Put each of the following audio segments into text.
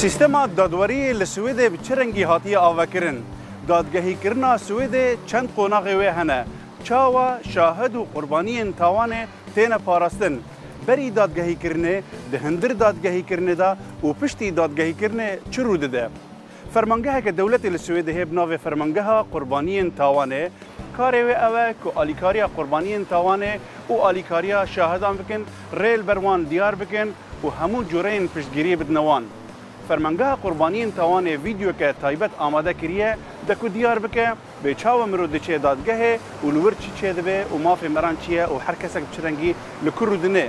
Sîstema dadweriyê li Swêdê bi çi rengî hatiye avekirin? Dadgehîkirina Swêdê çend qonaxê wê hene? Çawa şahid û qurbaniyên tawanê têne parastin? Berî dadgehîkirinê, di hindir dadgehîkirinê de û piştî dadgehîkirinê çi rû dide? Fermangeheke dewletê li Swêdê heye bi navê Fermangeha Qurbaniyên Tawanê. Karê wê ew e ku alîkariya qurbaniyên tawanê û alîkariya şahidan bikin, rê li ber wan diyar bikin û hemû cureyên piştgiriyê bidine wan. Fermangeha Qurbaniyên Tawanê vîdyoke taybet amade kiriye de ku diyar bike bê çawa mirov diçe dadgehê û li wir çi çêdibe û mafê miran çi ye û her kesek bi çi rengî li ku rûdine.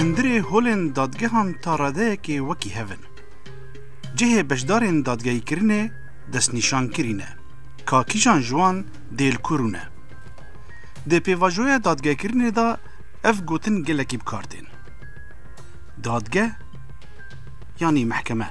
Hundirê holên dadgehan ta radeyekê wekî hev in. Cihê beşdarên dadgehîkirinê destnîşankirî ne, ka kîjan ji wan dê li ku rûne. Di pêvajoya dadgehkirinê de ev gotin gelekî bi kar tên. Dadgeh yanî mehkeme.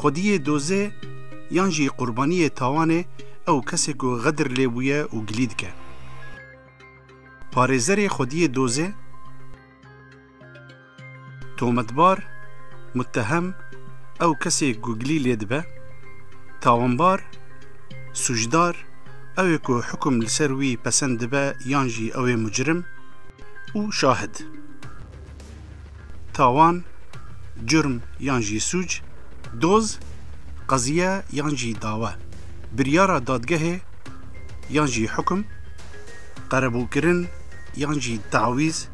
Xwediyê dozê yan jî qurbaniyê tawanê ew kesê ku xedir lê bûye û gilî dike. Parêzerê xwediyê dozê, tometbar, muttehem, ew kesê ku gilî lê dibe, tawanbar, sûcdar, ew ê ku hukum li ser wî pesend dibe yan jî ew ê mucrim, û şahid. Tawan, curm yan jî sûc, doz, qeziye yan jî dawe, biryara dadgehê yan jî hukum, qerebûkirin yan jî tawîz,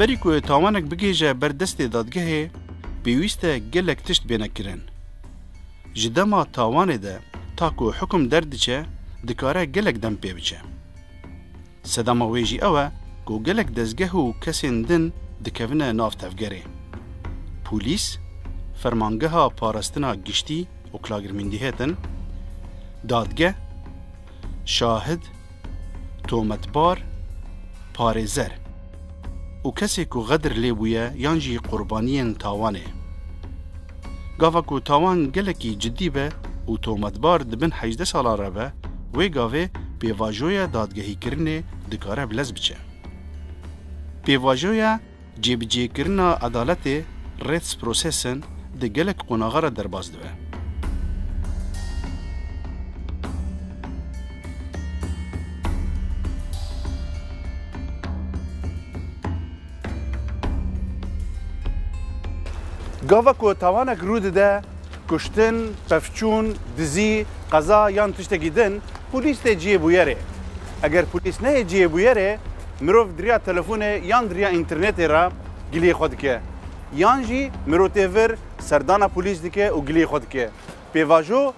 Berî ku tawanek bigêje ber destê dadgehê pêwîst e gelek tişt bêne kirin. Ji dema tawanê de ta ku hikum derdiçe dikare gelek dem pê biçe. Sedema wê jî ew e ku gelek dezgeh û kesên din dikevine nav tevgerê. Polîs, Fermangeha Parastina Giştî, Oklagirmyndigheten, Dadgeh, Şahid, Tometbar, Parêzer û kesê ku xedir lê bûye yan jî qurbaniyên tawanê. Gava ku tawan gelekî cidî be û tometbar di bin hejdeh salan re be, wê gavê pêvajoya dadgehîkirinê dikare bi lez biçe. Pêvajoya cêbicêkirina edaletê, Rättsprozessen, di gelek qonaxa re derbas dibe. Gava ku tawanek rû dide, kuştin, pevçûn, dizî, qeza yan tiştekî din, polîs tê cihê bûyerê. Eger polîs neyê cihê bûyerê, mirov di riya telefonê yan di riya înternetê re giliyê xwe dike. Yan jî mirov tê vir serdana polîs dike û giliyê xwe dike. Pêvajo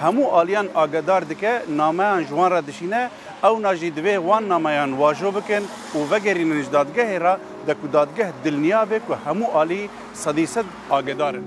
Hemû aliyan agedar dike, nameyan ji wan re dişîne, ewna jî divê wan nameyan wajo bikin û vegerînin ji dadgehê re de ku dadgeh dilniya be ku hemû alî sedî sed agedar in.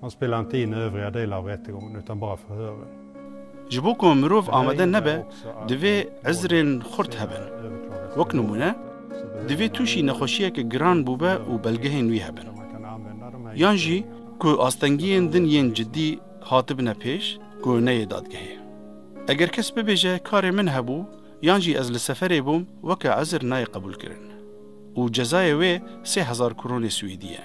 Hon spelantî ne œuvrea dê lavertigon, utan bira fihörin. Ji bo ku mirov amade nebe divê ezrên xurt hebin. Wek nimûne, divê tûşî nexweşiyeke giran bûbe û belgehên wî hebin. Yan jî ku astengiyên din yên cidî hatibine pêş ku neyê dadgehê. Eger kes bibêje karê min hebû yan jî ez li seferê bûm weke ezr nayê qebûlkirin û cezayê wê sê hezar kronê swîdî ye.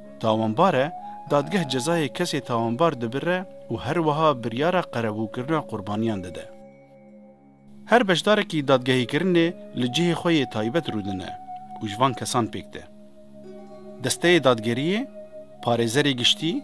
Tawanbar e, dadgeh cezayê kesê tawanbar dibire û her wiha biryara qerebûkirina qurbaniyan dide. Her beşdarekî dadgehîkirinê li cihê xwe yê taybet rûdine û ji van kesan pêk tê. Desteyê dadgeriyê, parêzerê giştî,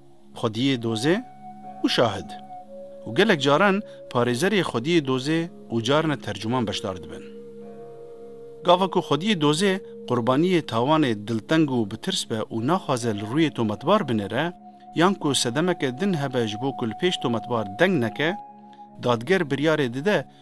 Xwediyê dozê û şahid û gelek caran parêzerê xwediyê dozê û carine tercuman beşdar dibin. Gava ku xwediyê dozê qurbaniyê tawanê dilteng û bi tirs be û naxwaze li rûyê tometbar binêre yan ku sedemeke din hebe ji bo ku li pêş tometbar deng neke, dadger biryarê dide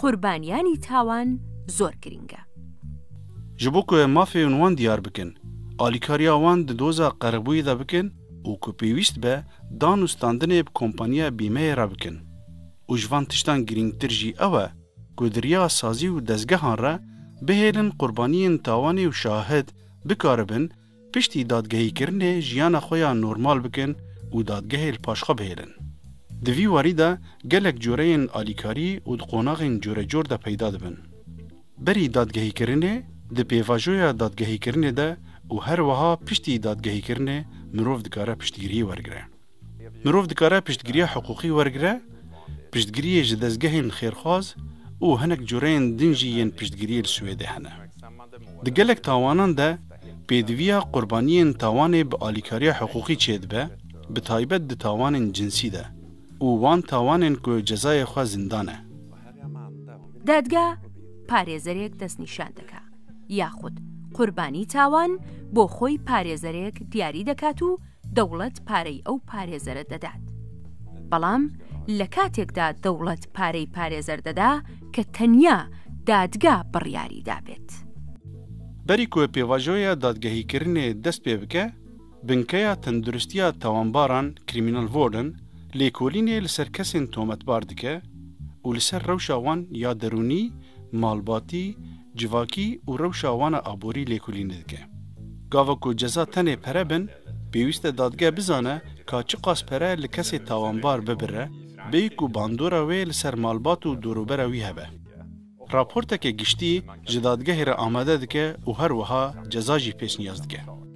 Qurbanîyanî tawan zor girîng e. Ji bo ku em mafên wan diyar bikin, alîkariya wan di doza qerebûyê de bikin û ku pêwîst be dan û standinê bi kompaniya bîmeyê re bikin. Û ji van tiştan girîngtir jî ew e ku di riya sazî û dezgehan re bihêlin qurbaniyên tawanê û şahid bikaribin Piştî dadgehîkirinê jiyana xwe ya normal bikin û dadgehê li paş xwe bihêlin. Di vî warî de gelek coreyên alîkarî û di qonaxên corecor de peyda dibin. Berî dadgehîkirinê, di pêvajoya dadgehîkirinê de û her wiha piştî dadgehîkirinê mirov dikare piştgiriyê wergire. Mirov dikare piştgiriya hiqûqî wergire, piştgiriyê ji dezgehên xêrxwaz û hinek cureyên din jî yên piştgiriyê li Swêdê hene. Di gelek tawanan de pêdiviya qurbaniyên tawanê bi alîkariya hiqûqî çêdibe, bi taybet di tawanên cinsî de û wan tawanên ku cezayê xwe zindan e. Dadga parêzerek destnîşan dike yaxud qurbanî tawan bo xwe parêzerek diyarî dikat û dewlet parey ew parêzere dedet. Belam li katek de dewlet parey parêzer deda ke tenya dadga biryarî dabet. Berî ku pêvajoya dadgehîkirinê dest pê bike, Binkeya Tenduristiya Tawanbaran, Kriminalvården, lêkolînê li ser kesên tometbar dike û li ser rewşa wan ya derûnî, malbatî, Civakî û rewşa wan a aborî lêkolînê dike. Gava ku ceza tenê pere bin, pêwîst e dadgeh bizane ka çiqas pere li kesê tawanbar bibire, bêyî ku bandora wê li ser malbat û dorûbera wî hebe. Raporteke giştî ji dadgehê re amade dike û her wiha ceza jî pêşniyaz dike.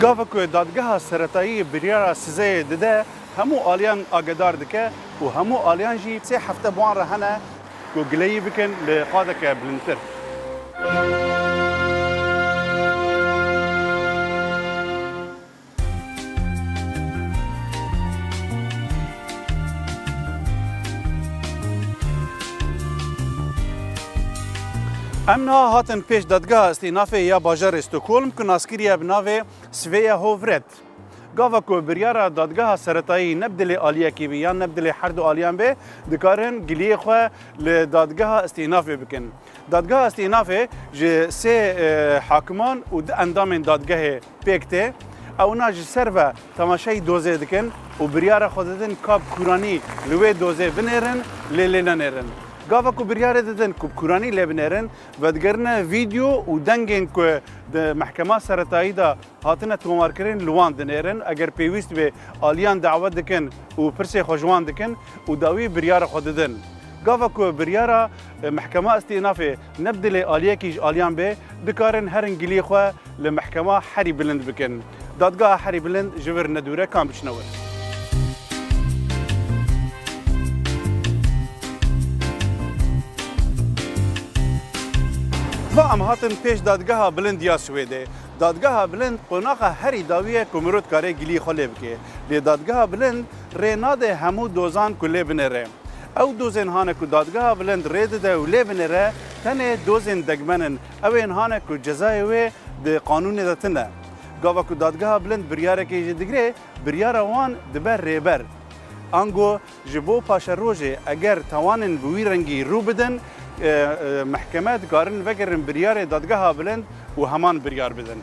Gava ku dadgeha seretayî biryara sizeyê dide hemû aliyan agedar dike û hemû aliyan jî sê hefte bi wan re hene ku gileyî bikin li qadeke bilindtir. Em niha hatin pêş dadgeha îstînafê ya bajarê Stockholm ku naskiriye bi navê Svea Hovret. Gava ku biryara dadgeha seretayî ne bi dilê aliyekî bî yan ne bi dilê her du aliyan bê, dikarin giliyê xwe li dadgeha îstînafê bikin. Dadgeha îstînafê ji sê e, hakiman û du endamên dadgehê pêk tê. Ewna ji ser ve temaşeyî dozê dikin û biryara xwe didin ka bi kûranî li wê dozê binêrin lê lê nenêrin. Gava ku biryarê didin ku bi kûranî lê binêrin, vedigerine vîdeo û dengên ku di mehkema seretayî de hatine tomarkirin li wan dinêrin. Eger pêwîst bê aliyan dawet dikin û pirsê xwe ji wan dikin û dawî biryara xwe didin. Gava ku biryara mehkema îstînafê Ne bi dilê aliyekî ji aliyan be, dikarin herin giliyê xwe li Mehkema Herî Bilind bikin. Dadgeha Herî Bilind ji vir nedûr e, kan biçine wir? Va em hatin pêş Dadgeha Bilind ya Swêdê. Dadgeha Bilind qonaxa herî dawî ye ku mirov dikarê giliyê xwe lê bike. Lê Dadgeha Bilind rê nade hemû dozan ku lê bine re. Ew dozên hane ku Dadgeha Bilind rê dide û lê binêre tenê dozên degmen in. Ew ên hane ku cezayê wê di qanûnê de tune. Gava ku Dadgeha Bilind biryarekê jî digire, biryara wan dibe rêber. Ango ji bo paşerojê eger tawanên bi wî rengî rû bidin, mehkeme dikarin vegerin biryarê Dadgeha Bilind û heman biryar bidin.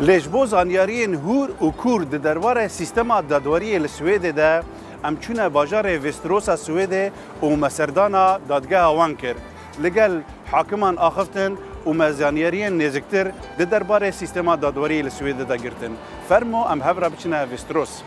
Lê ji bo zanyariyên hûr û kûr di derbarê sîstema dadweriyê li Swêdê de, em çûne bajarê Vêstirosa Swêdê û me serdana dadgeha wan kir. Li gel hakiman axiftin û me zanyariyên nêziktir di derbarê sîstema dadweriyê li Swêdê de girtin. Fermo em hev re biçine Vêstiros.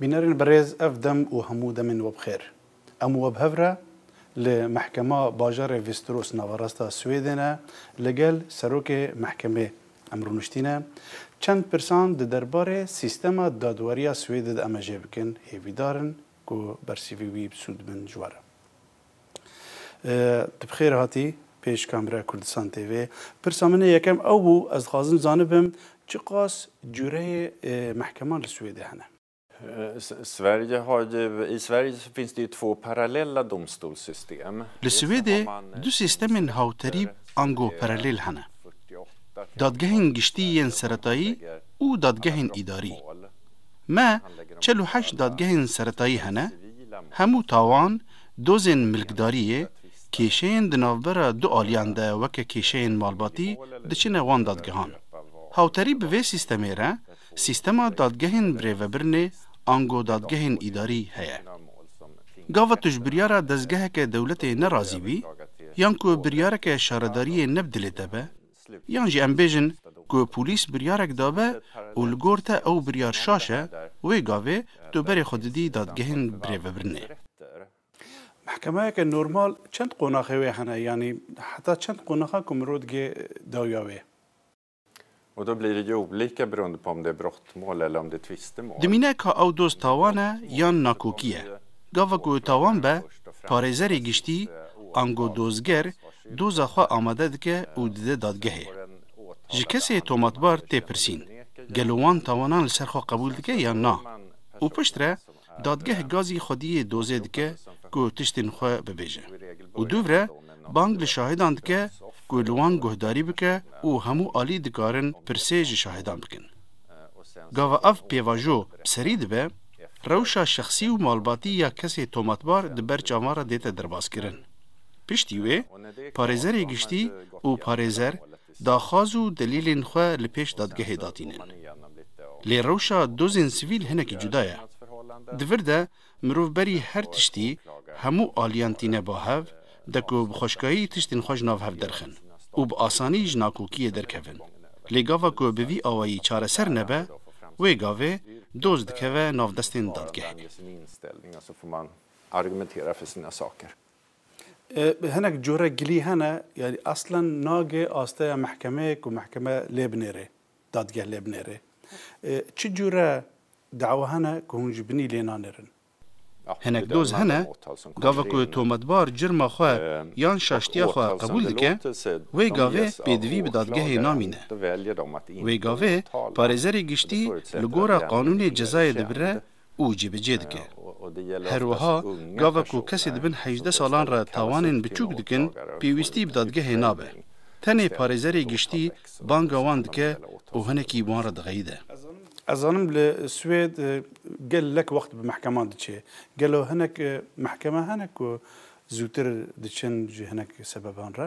Bînerên birêz ev dem û hemû demên we bi xêr. Em we bi hev re li Mehkema Bajarê Vîstros Navarasta Swêdê ne li gel Serokê Mehkemê em rûniştîne. Çend pirsan di derbarê sîstema dadweriya Swêdê de em ê jê bikin, hêvîdar in Ku bersîvî wî bi sûd bin ji we re. Tu bi xêr hatî pêş kamera Kurdistan TV. Pirsa min ê yekem ew bû, ez dixwazim zanibim çiqas cûreyê mehkeman li Swêdê hene? Sverige har ju, i Sverige finns det ju två parallella domstolssystem. Li Swêdê du sîstemên hawterî ango paralel hene, Dadgehên Giştî yên Seretayî û Dadgehên Îdarî. Me çel û heşt dadgehên seretayî hene, hemû tawan dozên milkdariyê kêşeyên di navbera du aliyan de weke kêşeyên malbatî diçine wan dadgehan. Hawterî bi vê sîstemê re sîstema dadgehên birêvebirinê ango dadgehên îdarî heye. Gava tu ji biryara dezgeheke dewletê nerazî bî yan ku biryareke şaredariyê ne bi dilê te be, Yan jî em bêjin ku polîs biryarek dabe û li gor te ew biryar şaş e, wê gavê tu berê xwe didî dadgehên birêvebirinê. Mehkemeyeke normal çend qonaxê wê hene yanî heta çend qonaxa ku mirov digê dawiya wê? Dimîne ka ew doz tawan e yan nakokî ye. Gava ku tawan be, parêzerê giştî, ango dozger, doza xwe amade dike û dide dadgehê. Ji kesê tomatbar tê pirsîn, gelo wan tawanan li ser xwe qebûl dike yan na? Û piştre Dadgeh gazî xwediyê dozê dike ku tiştên xwe bibêje û duvre bang li şahidan dike ku li wan guhdarî bike û hemû alî dikarin pirsê ji şahidan bikin. Gava ev pêvajo bi serî dibe, rewşa şexsî û malbatî ya kesê tomatbar di ber çavan re dête derbazkirin. Piştî wê, Parêzerê Giştî û Parêzer daxwaz û delîlên xwe li pêş dadgehê datînin. Lê rewşa dozên sivîl hinekî cuda ye. Di vir de mirov berî her tiştî hemû aliyan tîne ba hev, de ku bi xweşkayî tiştên xwe ji nav hev derxin û bi asanî ji nakokiyê derkevin. Lê gava ku bi vî awayî çareser nebe, wê gavê doz dikeve nav destên dadgehê. Hinek cure gilî hene, yanî eslan nage asteya mehkemeyê ku mehkeme lê binêrê, dadgeh lê binêrê. Çi cure dawa hene ku hûn ji binî lê nanêrin? Hinek doz hene, gava ku tometbar curma xwe yan şaştiya xwe qebûl dike, wê gavê pêdivî bi dadgehê namîne. Wê gavê parêzerê giştî li gora qanûnê cezayê dibire û cîbicê dike. Her wiha gava ku kesê di bin hejdeh salan re tawanên biçûk dikin, pêwîstî bi dadgehê nabe. Tenê parêzerê giştî banga wan dike û hinekî wan re dixeyide. Ez zanim li Swêd gel lek wext bi mehkeman diçê. Gelo hinek mehkeme hene ku zûtir diçin ji hinek sebeban re?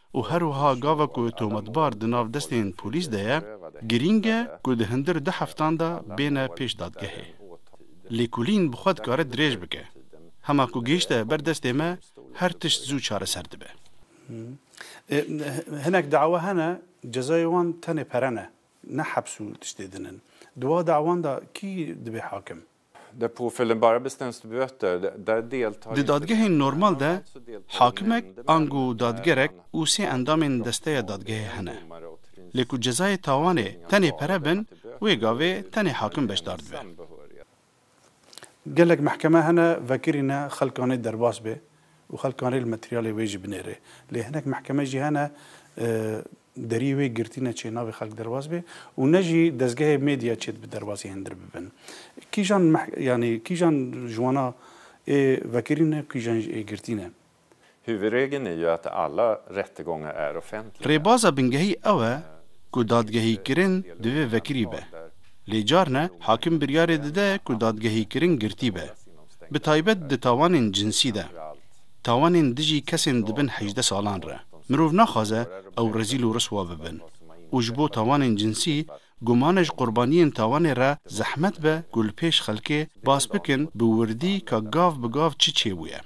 û her wiha gava ku tometbar di nav destên polîs de ye, girîng e ku di hundir du heftan de bêne pêş dadgehê. Lêkolîn bi xwe dikare dirêj bike. Hema ku gihîşte ber destê me, her tişt zû çareser dibe. Hinek dawa hene cezayê wan tenê pere ne, ne heps û tiştê din in. Di wa dawan de kî dibê hakim? Di dadgehên normal de hakimek ango dadgerek û sê endamên desteya dadgehê hene. Lê ku cezayê tawanê tenê pere bin, wê gavê tenê hakim beşdar dibe. Gelek mehkeme hene vekirî ne xelkanê derbas bê û xelkanê li materyalê wê jî binêrê. Lê hinek mehkeme jî hene deriyê wê girtî ne çê navê xelk derbas bê û ne jî dezgehê medya çê dibe derbasî hindir bibin. Kîjan yanî kîjan ji wana ê vekirîn e kîjan jî ê girtîn e. Hüvregini yat alla rättegånga är offentlig. Rêbaza bingehî ew e ku dadgehîkirin divê vekirî be. Lê carne hakim biryarê dide ku dadgehîkirin girtî be. Bi taybet di tawanên cinsî de. Tawanên dijî kesên di bin hejdeh salan re, mirov naxwaze ew rezîl û riswa bibin û ji bo tawanên cinsî gumane ji qurbaniyên tawanê re zehmet be ku li pêş xelkê bas bikin bi wirdî ka gav bi gav çi çêbûye.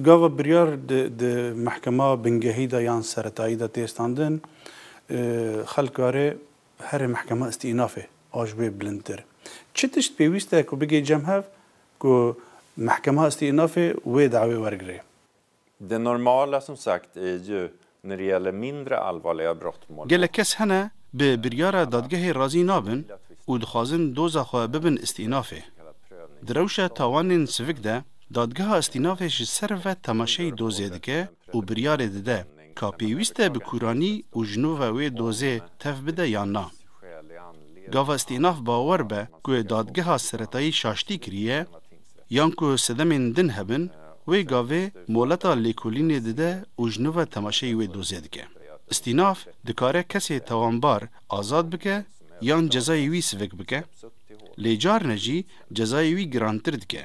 Gava biryar di mehkema bingehî de yan seretayî de tê standin, xelk karê Herî mehkema îstînafê a ji wê bilindtir. Çi tişt pêwîst e ku bigê cem hev ku mehkema îstînafê wê dawê wergirê? De normal a sunt sagt ju nirja le mindre allvarliga brott mål Gelek kes hene bi biryara dadgehê razî nabin û dixwazin doza xwe bibin îstînafê. Di rewşa tawanên sivik de, dadgeha îstînafê ji ser ve temaşeyî dozê dike û biryarê dide ka pêwîst e bi kûranî û ji nû ve wê dozê tev bide yan na. Gava îstînaf bawer be ku dadgeha seretayî şaştî kiriye yan ku sedemên din hebin, wê gavê moleta lêkolînê dide û ji nû ve temaşeyî wê dozê dike. Îstînaf dikare kesê tawanbar azad bike yan cezayê wî sivik bike, lê carine jî cezayê wî girantir dike.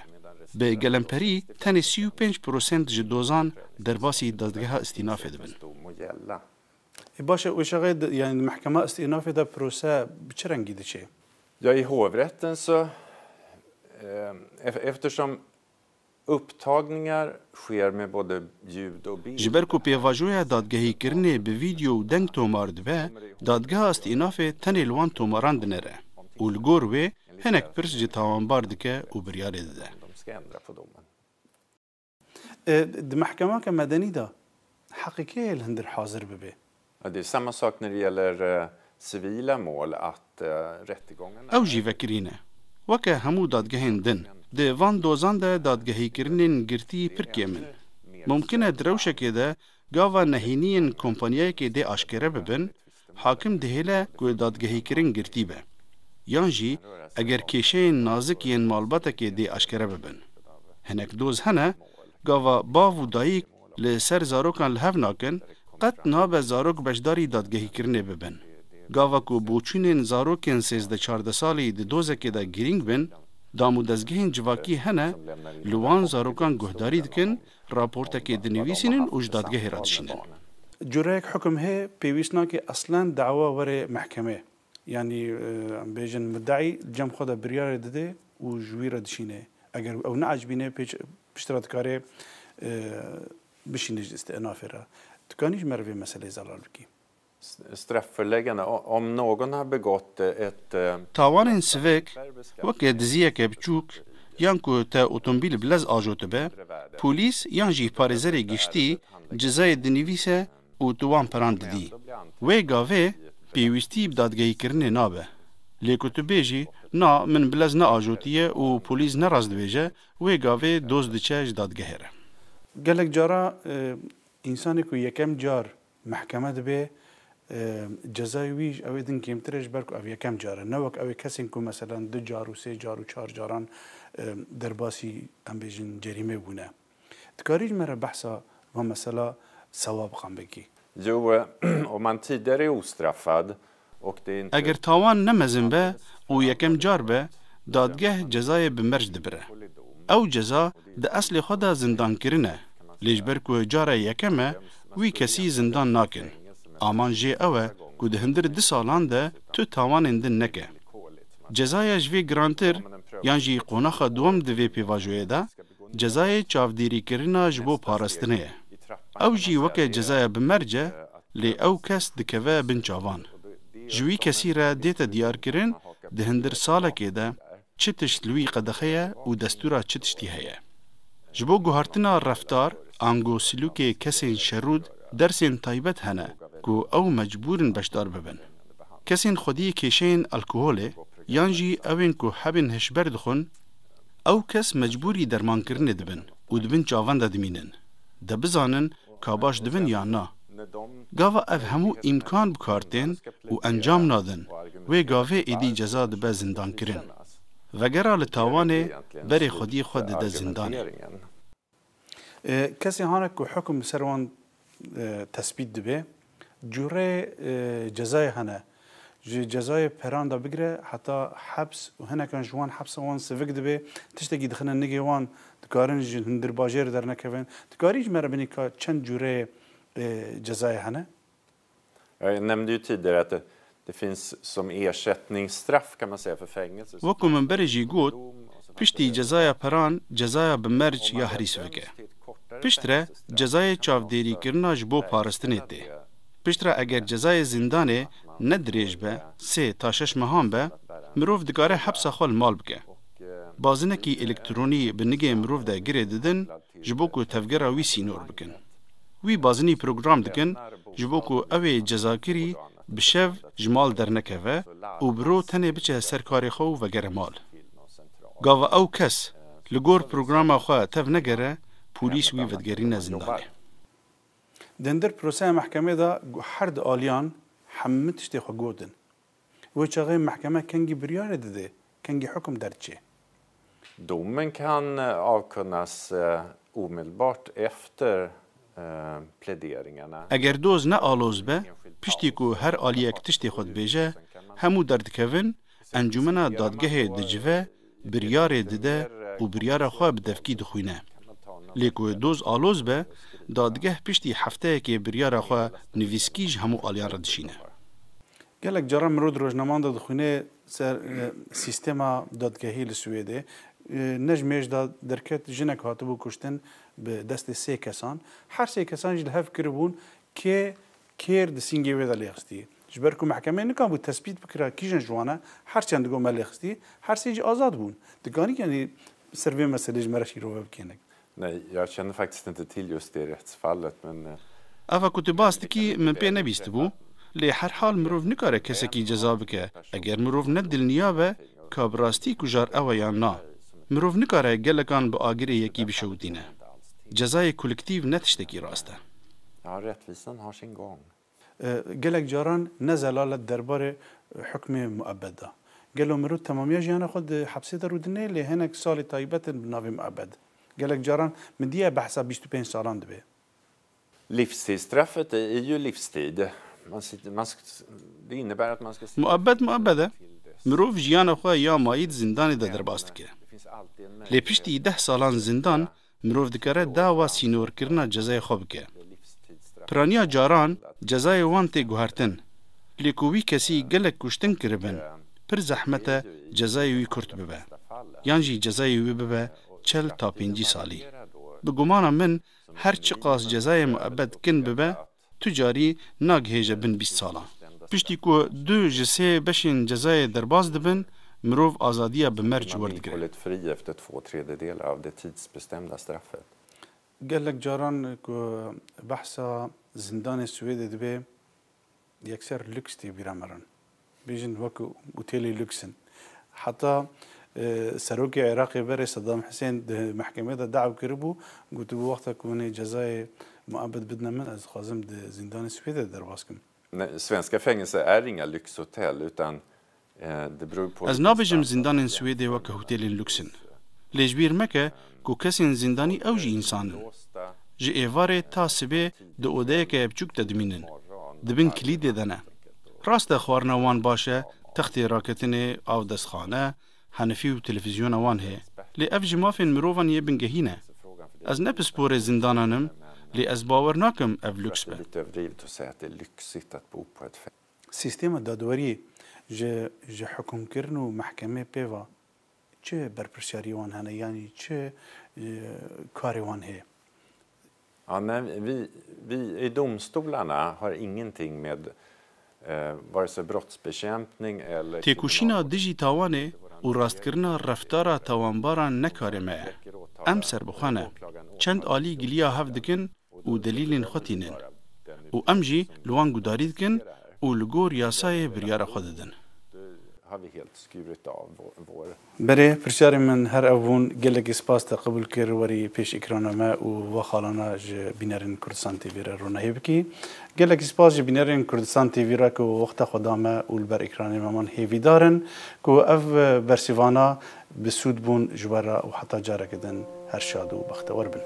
Bi gelemperî tenê sî û pênc prosent ji dozan derbasî dezgeha îstînafê dibin. E baş e Uşaxê di yanî di mehkema îstînafê de prose bi çi rengî diçê? Ja i hovrätten så eftersom upptagningar sker med både ljud och bild. Ji ber ku pêvajoya dadgehîkirinê bi vîdeo û deng tomar dibe, dadgeha îstînafê tenê li wan tomaran dinêre û li gor wê Hinek pirs jî tawanbar dike û biryarê dide. Di mehkemake medenî de heqê kê ye li hundir hazir bibe? Ew jî vekirî ne. Weke hemû dadgehên din, di van dozan de dadgehîkirinên girtî pir kêm in. Mumkin e di rewşekê de gava nehîniyên kompanyayekê dê aşkere bibin Hakim dihêle ku dadgehîkirin girtî be yan jî eger kêşeyên nazik yên malbatekê dê aşkere bibin. Hinek doz hene gava bav û dayîk li ser zarokan li hev nakin, qet nabe zarok beşdarî dadgehîkirinê bibin. Gava ku boçûnên zarokên sêzdeh çardeh salî di dozekê de girîng bin, damûdezgehên civakî hene li wan zarokan guhdarî dikin Raportekê dinivîsînin û ji dadgehê re dişînin. Cureyek hukum hê pêwîst nake eslan dawa were mehkeme. Yanî em bêjin muddeî di cem xwe de biryarê dide û ji wî re dişîne. Eger ew neacbîne pêç pişt re dikare bişîne ji istinafê re. Tu kanî ji me re vê meseleyê zelal bikî. Tawanên sivik, weke diziyeke biçûk yan ku te otombîl bi lez ajotibe, polîs yan jî parêzerê giştî cezayê dinivîse û tu wan piran didî. Wê gavê pêwîstî bi dadgehîkirinê nabe. Lê ku tu bêjî na min bi lez neajotiye û polîs ne rast dibêje, wê gavê doz diçe ji dadgehê re. Gelek cara însanê ku yekem car Mehkeme dibê cezayê wî ji ew ê din kêmtir e ji ber ku ev yekem car e. Ne wek ew ê kesên ku meselen du car û sê car û çar caran derbasî em bêjin cerîmê bûne. Dikarî ji me re behsa van mesela sewabxan bikî? Ji Oman tî derê Ustrafad Eger tawan ne mezin be û yekem car be, dadgeh cezayê bi merc dibire. Ew ceza di eslê xwe de zindankirin e, lê ji ber ku cara yekem e, wî kesî zindan nakin. Aman jê ew e ku di hundir du salan de tu tawanên din neke. Cezaya ji vê girantir yan jî qonaxa duwam di vê pêvajoyê de cezayê çavdêrîkirina ji bo parastinê ye. Ew jî weke cezaya bi merc e, lê ew kes dikeve bin çavan. Ji wî kesî re dête diyarkirin di hindir salekê de çi tişt li wî qedexe ye û destûra çi tiştî heye. Ji bo guhartina reftar, ango silûkê kesên şerrûd dersên taybet hene ku ew mecbûrin beşdar bibin. Kesên xwediyê kêşeyên alkoholê yan jî ewên ku hebên hişber dixwin, Ew kes mecbûrî dermankirinê dibin û di bin çavan de dimînin. De bizanin ka baş dibin yan na. Gava ev hemû îmkan bi kar tên û encam nadin, wê gavê êdî ceza dibe zindankirin. Vegera li tawanê berê xwedî xwe dide zindanê. Kesên hane ku hukm li ser wan tesbît dibe cure cezayê hene. Ji cezayê peran de bigire heta heps û hinekan ji wan hepsa wan sivik dibe, tiştekî dixine nigê wan, dikarin ji hundir bajêr dernekevin. Dikarî ji me re binî ka çend cure cezayê hene? Jag är, nämnde ju tidigare att det, det finns som ersättningsstraff kan man säga för fängelse. Wek ku min berê jî got, piştî cezaya peran cezaya bi merc ya herî sivik e. Piştre cezayê çavdêrîkirina ji bo paristinê tê. Piştre eger cezayê zîndanê ne dirêj be, sê ta şeş mehan be, mirov dikare hepsa xwe li mal bike. Bazinekî elektronî bi nigê mirov de girê didin, ji bo ku tevgera wî sînor bikin. Wî bazinî program dikin ji bo ku ew ê cezakirî bi şev ji mal dernekeve û bi ro tenê biçe ser karê xwe û vegere mal. Gava ew kes li gor programa xwe tev negere, polîs wî vedigerîne zindanê. Dendir proseya mehkemê de ku her du aliyan hemû tiştê xwe gotin. Wê çaxê mehkeme kengî biryarê dide, kengî hukm derdiçe. Dominkan Alconas omedelbart efter pläderingarna. Eger doz ne aloz be, piştî ku her aliyek tiştê xwe dibêje, hemû derdikevin, encûmena dadgehê dicive, biryarê dide û biryara xwe bi devkî dixwîne. Lê ku doz aloz be, dadgeh piştî hefteyekê biryara xwe nivîskî ji hemû aliyan re dişîne. Gelek caran mirov di rojnaman de dixwîne ser sîstema dadgehî li Swêdê. Ne ji mêj de derket jinek hatibû kuştin bi destê sê kesan. Her sê kesan jî li hev kiribûn kê kêr di sîngê wê de lêxistî. Ji ber ku mehkemeyê nikabû tespît bikira kîjan ji wan e, her çend di gomelê xistî, her sê jî azad bûn. Dikanî yanî bi ser vê meselê ji me re şîrove bikêne. Ne, ya çend faktisne di tîl yostêrê htisfal let min. Ava ku tu bas dikî min pê nebîstibû, lê her hal mirov nikare kesekî ceza bike eger mirov ne dilniya be ka bi rastî kujar ew e yan na. Mirov nikare gelekan bi agirê yekî bişewitîne. Cezayê kuliktîv ne tiştekî rast e. Gelek caran ne zelal e derbarê hukmê muebed de. Gelo mirov temamiya jiyana xwe di hepsê de rûdine lê hinek salê taybet in bi navê muebed. Gelek caran midîya behsa bîst û pênc salan dibe. Livstid straffet är ju livstid. Man sitter, man ska, det innebär att man ska sitta i fängelse. Muebed muebed e. Mirov jiyana xwe ya mayî di zindanê de derbas dike. Lê piştî deh salan zindan Mirov dikare dawa sînorkirina cezayê xwe bike. Piraniya caran cezayê wan tê guhertin, lê ku wî kesî gelek kuştin kiribin, pir zehmet e cezayê wî kurt bibe, yan jî cezayê wî bibe çel ta pêncî salî. Bi gumana min her çiqas cezayê muebed kin bibe, tu carî nagihêje bin bîst salan. Piştî ku du ji sê beşên cezayê derbas dibin, mirov azadiya bi merc werdigire. Gelek caran ku behsa zindanê Swêdê dibe, yekser lûks tê bîra mirin. Bêjin wek otêlê lûks in. Heta serokê Iraqê berê Sedam Hisên di mehkemeyê de dew kiribû, gotibû wexta ku hûn ê cezayê muebed bidine min, ez dixwazim di zîndanê Swêdê de derbas kim. Svenska fängelser är inga lyxhotell utan det beror på vilken standard man jämför. Ez nabêjim zîndanên Swêdê wek hotêlên lûks in. Lê ji bîr meke ku kesên zîndanî ew jî însan in. Ji êvarê ta sibê di odeyeke bçûk de dimînin, di bin kilîdê de ne. Rast e xwarina wan baş e, textê raketinê, av destxane, henifî û televîzyona wan heye. Lê ev ji mafên mirovan yê bingehîn e. Ez ne pisporê zindanan im, lê ez bawer nakim ev lûks be. Sîstema dadweriyê ji ji hikûmkirin û mehkemê pê ve Çi berpirsiyariyê wan hene yanî çi karê wan hê? Ja men vi vi i domstolarna har ingenting med vare sig brottsbekämpning eller Têkoşîna dijî tawanê û rastkirina reftara tawanbaran ne karê me ye. Em serbixwe ne. Çend alî giliya hev dikin û delîlên xwe tînin û em jî li wan guhdarî dikin û li gor yasayê biryara xwe didin. Berê, pirsyarên min her ev bûn, gelekî spas te qebûl kir werî pêş îkrana me û va xalana ji bînerên Kurdistan TV re ronahî bikî. Gelekî spas ji bînerên Kurdistan TV re ku wexta xwe da me û li ber îkranê me man hêvîdar in ku ev bersîvana Bi sûd bûn ji we re û heta careke din her şad û bextewer bin.